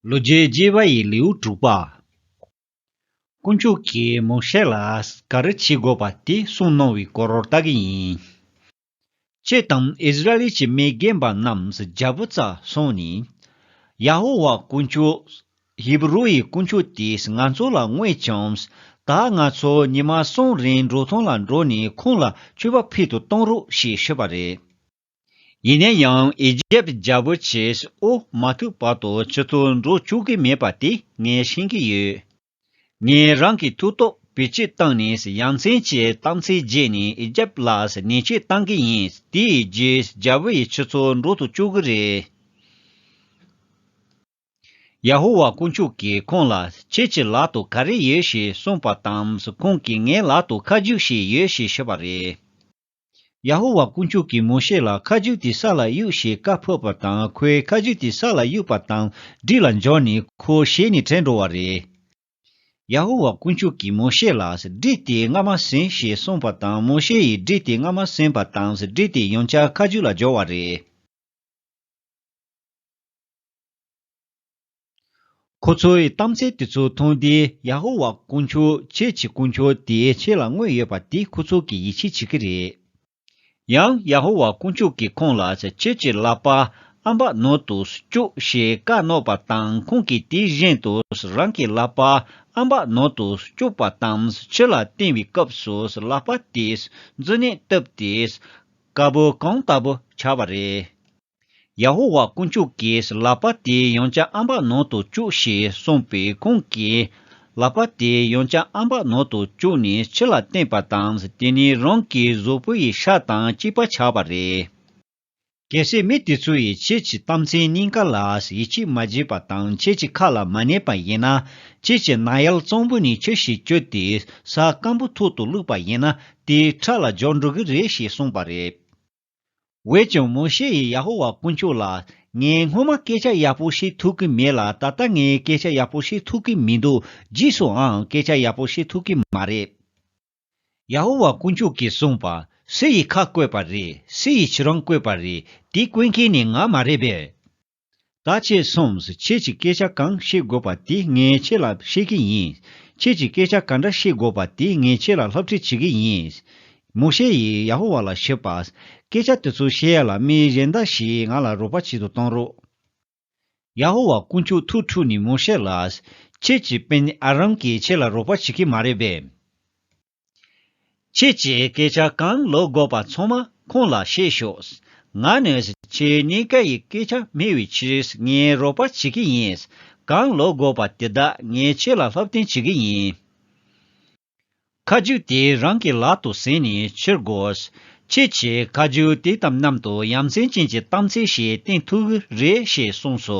ལོ་བརྒྱའི་རྒྱས་པ་ཡི་ལེའུ་དྲུག་པ། དཀོན་མཆོག་གིས་མོ་ཤེ་ལ་ག་རེ་བྱེད་དགོས་པ་དེ་གསུངས་གནང་བའི་སྐོར་རོར་བལྟ་གི་ཡིན། ཁྱེད་དང་ཨིསི་རཱཨེལ་གྱི་མི་རྒན་པ་རྣམས་རྒྱལ་པོ་རྩ་སོང་ནས། ཡ་ཧོ་ཝཱ་དཀོན་མཆོག། ཧེ་བི་རུ་ཡི་དཀོན་མཆོག་དེས་ང་ཚོ་ལ་བསྔོས་ཀྱང། ད་ང་ཚོ་ཉི་མ་གསུམ་རིང་འབྲོག་ཐང་ལ་འགྲོ་ནས་ཁོང་ལ་མཆོད་པ་ཕུལ་དུ་གཏོང་རོགས་ཞེས་ཤོད་པ་རེད། ཡིན་ན་ཡང་ཨི་ཇེབ་རྒྱལ་པོ་ཆེས་དབུ་མ་ཐུག་བར་དུ་ཆུ་ཚོད་འགྲོ་བཅུག་གི་མེད་པ་དེ་ངས་ཤེས་ཀྱི་ཡོད། ངས་རང་གི་ཐུགས་སྟོབས་བེད་སྤྱོད་བཏང་ནས་ཡ་མཚན་གྱི་གཏམ་ཚིག་བརྗེད་ནས་ཨི་ཇེབ་ལ་ནན་བཤད་བཏང་གི་ཡིན་དེས་ཨི་ཇེབ་རྒྱལ་པོ་ཡི་ཆུ་ཚོད་འགྲོ་དུ་བཅུག་གི་རེད། ཡ་ཧོ་ཝཱ་དཀོན་མཆོག་གིས་ཁོང་ལ་ཁྱེད་ཀྱི་ལག་ཏུ་ག་རེ་ཡོད་ཞེས་གསུངས་པ་དང་ཁོང་གིས་ངའི་ལག་ཏུ་ཁ་རྒྱུགས་ཤིག་ཡོད་ཞེས་ཞུས་པ་རེད། ཡ་ཧོ་ཝཱ་དཀོན་མཆོག་གིས་མོ་ཤེ་ལ་ཁ་ཆུ་དེ་ས་ལ་གཡུགས་ཞེས་བཀའ་ཕབ་པ་དང་ཁོའི་ཁ་ཆུ་དེ་ས་ལ་གཡུགས་པ་དང་སྦྲིད་ལ་འབྱོར་ནས་ཁོ་ཞལ་ནས་བྲལ་འགྲོ་བ་རེད། ཡ་ཧོ་ཝཱ་དཀོན་མཆོག་གིས་མོ་ཤེ་ལ་སྦྲིད་དེ་སྔ་མ་ཟིན་ཞེས་གསུངས་པ་དང་མོ་ཤེ་ཡིས་སྦྲིད་དེ་སྔ་མ་ཟིན་པ་དང་སྦྲིད་དེ་ཡོངས་ཆགས་ཁ་ཆུ་ལ་འབྱོར་བ་རེད། ཁོ་ཚོའི་གཏམ་ཚད་དེ་ཚོ་མཐོང་སྟེ་ཡ་ཧོ་ཝཱ་དཀོན་མཆོག་ཁྱེད་ཀྱི་དཀོན་མཆོག་དེ་ཁྱེད་ལ་དངོས་ཡོད་པ་དེ་ཁོ་ཚོ་གིས་ཡིད་ཆེས་བྱེད་ཀྱི་རེད། ཡང་ཡ་ཧོ་ཝཱ་དཀོན་མཆོག་གིས་ཁོང་ལ་ཁྱེད་ཀྱི་ལག་པ་ཨམ་བག་ནོར་དུ་བཅུག་ཞེས་བཀའ་གནང་བ་དང་ཁོང་གིས་དེ་བཞིན་དུ་རང་གི་ལག་པ་ཨམ་བག་ནོར་དུ་བཅུག་པ་དང་ཕྱི་ལ་བསྟན་བའི་སྐབས་སུ་ལག་པ་དེས་འཛུལ་ནས་བཏུབ་སྟེ་དཀར་པོ་གང་ལྟ་བུ་ཆགས་པ་རེད། ཡ་ཧོ་ཝཱ་དཀོན་མཆོག་གིས་ལག་པ་དེ་ཡང་བྱ་ཨམ་བ་ནང་དུ་བཅུག་ཞེས་གསུངས་པས་ཁོང་གིས་ལག་པ་དེ་ཡང་བྱ་ཨམ་བ་ནང་དུ་བཅུག་ནས་ཕྱི་ལ་བསྟན་པ་དང་དེ་ནས་རང་གི་གཟུགས་པོ་ཡི་ཤ་དང་གཅིག་པ་ཆགས་པ་རེད། གལ་སྲིད་མི་དེ་ཚོ་ཡིས་ཁྱེད་ཀྱི་གཏམ་ཚན་གཉིས་ཀ་ལ་ཡིད་ཆེས་མ་བྱས་པ་དང་ཁྱེད་ཀྱི་ཁ་ལ་མ་གནས་པ་ཡིན་ན་ཁྱེད་ཀྱི་རྣ་ཡལ་གཙང་པོ་ནས་ཁྱི་ཞིག་བསྐྱོད་དེ་ས་སྐམ་པོ་ཐུག་ཏུ་བླུགས་པ་ཡིན་ན་དེའི་ཁྲག་ལ་སྦྱོར་འགྲོ་གི་རེད་ཞེས་གསུངས་པ་རེད། འོད་ཀྱང་མོ་ཤེ་ཡིས་ཡ་ཧོ་ཝཱ་དཀོན་མཆོག་ལ། ངས་སྔོན་མ་སྐད་ཆ་ཡག་པོ་ཤེས་ཐུབ་ཀྱི་མེད་ལ་ད་ལྟ་ངས་སྐད་ཆ་ཡག་པོ་ཤེས་ཐུབ་ཀྱི་མི་འདུག་རྗེས་སུའང་སྐད་ཆ་ཡག་པོ་ཤེས་ཐུབ་ཀྱི་མ་རེད། ཡ་ཧོ་ཝཱ་དཀོན་མཆོག་གིས་གསུངས་པ། སུ་ཡིས་ཁ་བཀོད་པ་རེད། སུ་ཡིས་ཕྱི་རོང་བཀོད་པ་རེད། དེ་བཀོད་མཁན་ནི་ང་མ་རེད་པས། ད་ཁྱེད་གསུམས་ཁྱེད་ཀྱི་སྐད་ཆ་གང་བཤད་དགོས་པ་དེ་ངས་ཁྱེད་ལ་བཤད་གི་ཡིན། ཁྱེད་ཀྱི་སྐད་ཆ་ག་འདྲ་བཤད་དགོས་པ་དེ་ངས་ཁྱེད་ལ་ལྷབ་ཁྲིད་བྱེད་གི་ཡིན། མོ་ཤེ་ཡིས་ཡ་ཧོ་ཝཱ་ལ་ཞུས་པ། སྐད་ཆ་དེ་ཚོ་བཤད་ཡ་ལ་མི་གཞན་འདྲ་ཞིག་ང་ལ་རོགས་པ་བྱེད་དུ་གཏོང་རོགས། ཡ་ཧོ་ཝཱ་དཀོན་མཆོག་ཐུགས་ཁྲོས་ནས་མོ་ཤེ་ལ། ཁྱེད་ཀྱི་དཔོན་ཨ་རམ་གྱིས་ཁྱེད་ལ་རོགས་པ་བྱེད་གི་མ་རེད་པས། ཁྱེད་ཀྱིས་སྐད་ཆ་གང་ལོག་དགོས་པ་ཚང་མ་ཁོང་ལ་བཤད་ཤོགས། ང་ནི་ཁྱེད་གཉིས་ཀ་ཡི་སྐད་ཆ་སྨྲས་བའི་ཕྱིར་ངས་རོགས་པ་བྱེད་ཀྱི་ཡིན། གང་ལོག་དགོས་པ་དེ་དག་ངས་ཁྱེད་ལ་ལྷབ་བསྟན་བྱེད་ཀྱི་ཡིན། ཁ་རྒྱུགས་དེ་རང་གི་ལག་ཏུ་བཟེད་ནས་ཕྱིར་དགོས། ཁྱེད་ཀྱིས་ཁ་རྒྱུགས་དེ་དམ་ནམ་དུ་ཡ་མཚན་ཅན་གྱི་གཏམ་ཚིག་ཞིག་བསྟན་ཐུག་གི་རེད་ཞེས་གསུངས་སོ།